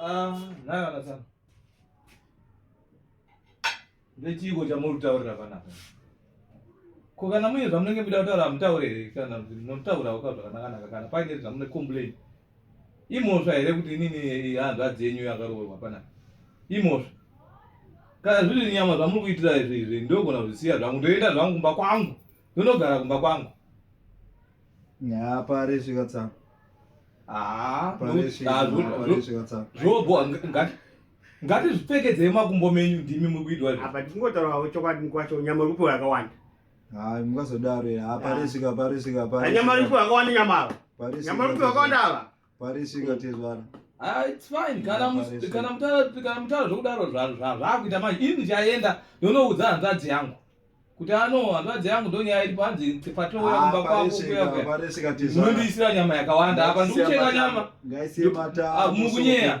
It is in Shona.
Ah, nana nasana. Ndechiiko chamuri kutaurira panapa? Ko kana muine zvamunenge muchida kutaura hamutaure here kana munotaurawo ka zvakanakanaka kana paine zvamune complain. Imhosva here kuti inini hanzvadzi yenyu yakaroorwa panapa? Imhosva. Kana zviri nyama zvamuri kuitira izvi izvi ndogona kuzvisiya zvangu ndoenda zvangu kumba kwangu. Ndonogara kumba kwangu. Yaa pari svika tsa. Haa. Pari svika tsa. Zvobo ngati. Ngati zvipfekedzei makumbo menyu ndimi muri kuitwa izvi. Apa tingotaurawo chokwadi mukwacho nyama uri kupiwa yakawanda. Haa mukazodaro yaa pari svika pari svika pari. Nyama uri kupiwa yakawanda nyama ava. Nyama uri kupiwa yakawanda ava. parisingotezvara ah, it's fine kana mutaura zvokudaro zvakuita manje ini ndichaenda ndonoudza hanzvadzi yangu kuti ano hanzvadzi yangu ndonyaya iripo hanzi patouya ah, kumba kwako kuyaunondiisira nyama yakawanda apa ndikuchenga nyama ah, mukunyeya